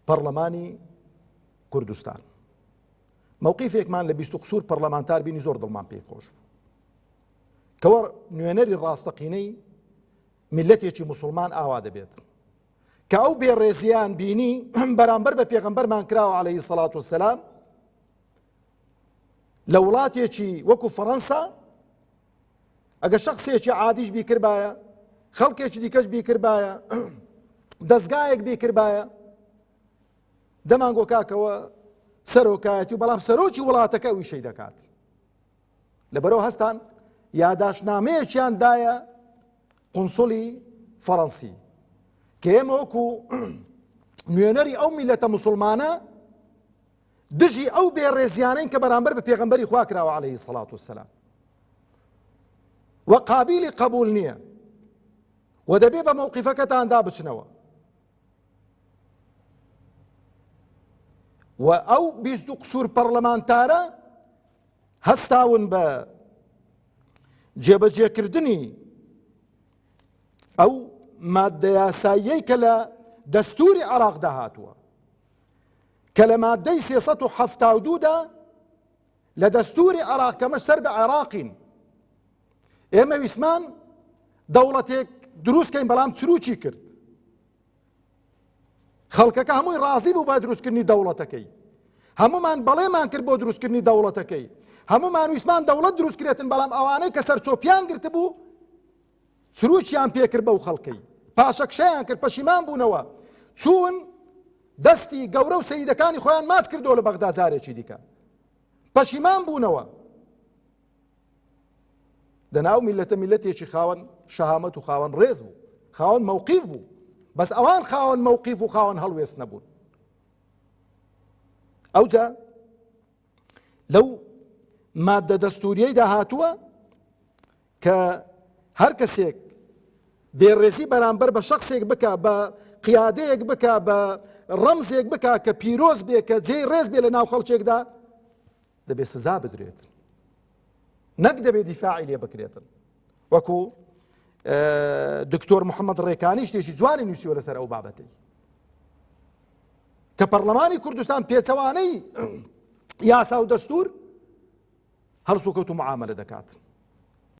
پەرلەمانی کوردستان مووقیفێکمان لە بیست و قسوور پەرلەمانتار بینی زۆر دڵمان پێی خۆش بوو کەوە نوێنەری ڕاستەقینەی میلەتێکی مسلمان ئاوا دەبێت کە ئەو بێڕێزیان بینی بەرامبەر بە پێغمبەرمان کراوە عليهەی سەڵات و سەسلام لە وڵاتێکی وەکو فەڕەنسا ئەگە شخصێکی عادیش بیکردبایە خەڵکێکی دیکەش بیکردبایە دەستگایەک بیکردبایە دەمانگۆ کاکەوە سەرۆکایەتی و بەڵام سەرۆکی وڵاتەکە ئەوی شەی دەکات لە بەرەو هەستان یاداشنامەیەکیان دایە قنسڵی فەڕەنسی کە ئێمە وەکو نوێنەری ئەو میلەتە مسلمانە دژی ئەو بێ ڕێزیانەین کە بەرامبەر بە پێغەمبەری خوا کراوە عەلەیهی سەڵات وسلام و قابیلی قبول نییە و دەبێ بە مەوقیفەکەتاندا بچنەوە و ئەو بیست و قسوور پەرلەمانتارە هەستاون بە جێبەجێکردنی ئەو مادەیاساییەی کە لە دەستوری عراقدا هاتووە کە لە مادەی سێ سەد و حەفتا و دوودا لە دەستوری عێراق کەمە سەر بە عێراقین ئێمە ویسمان دەوڵەتێک دروستکەین بەڵام چروکی کرد خەڵکەکە هەمووی ڕازی بوو بە دروستکردنی دەوڵەتەکەی هەمومان بەڵێمان کرد بۆ دروستکردنی دەوڵەتەکەی هەمومان ویسمان دەوڵەت دروستکرێتن بەڵام ئەوانەی کە سەرچۆپیان گرتبوو چروکیان پێکرد بەو خەڵکەی پاشەکشەیان کرد پەشیمان بوونەوە چوون دەستی گەورە و سەیدەکانی خۆیان ماچ کردەوە لە بەغدا جارێکی دیکە پەشیمان بوونەوە دەناو میلەتە میلەتێکی خاوەن شەهامەت و خاوەن ڕێز بوو خاوەن مەوقیف بوو بەس ئەوان خاوەن مەوقیف و خاوەن هەڵوێست نەبوون ئەوجا لەو مادە دەستوریەیدا هاتووە کە هەر کەسێک بێڕێزی بەرامبەر بە شخصێک بک بە قیادەیەک بک بە ڕەمزێک بک کە پیرۆز بێ کە جێی ڕێز بێ لە ناو خەڵکێکدا دەبێت سزا بدرێت نەک دەبێت دیفاعی لێ بکرێتن وەکو دکتۆر محەممەد ڕێکانی شتێکی جوانی نووسیوە لەسەر ئەو بابەتەی کە پەرلەمانی کوردستان پێچەوانەی یاسا و دەستور هەڵسوکەوت و معاملە دەکات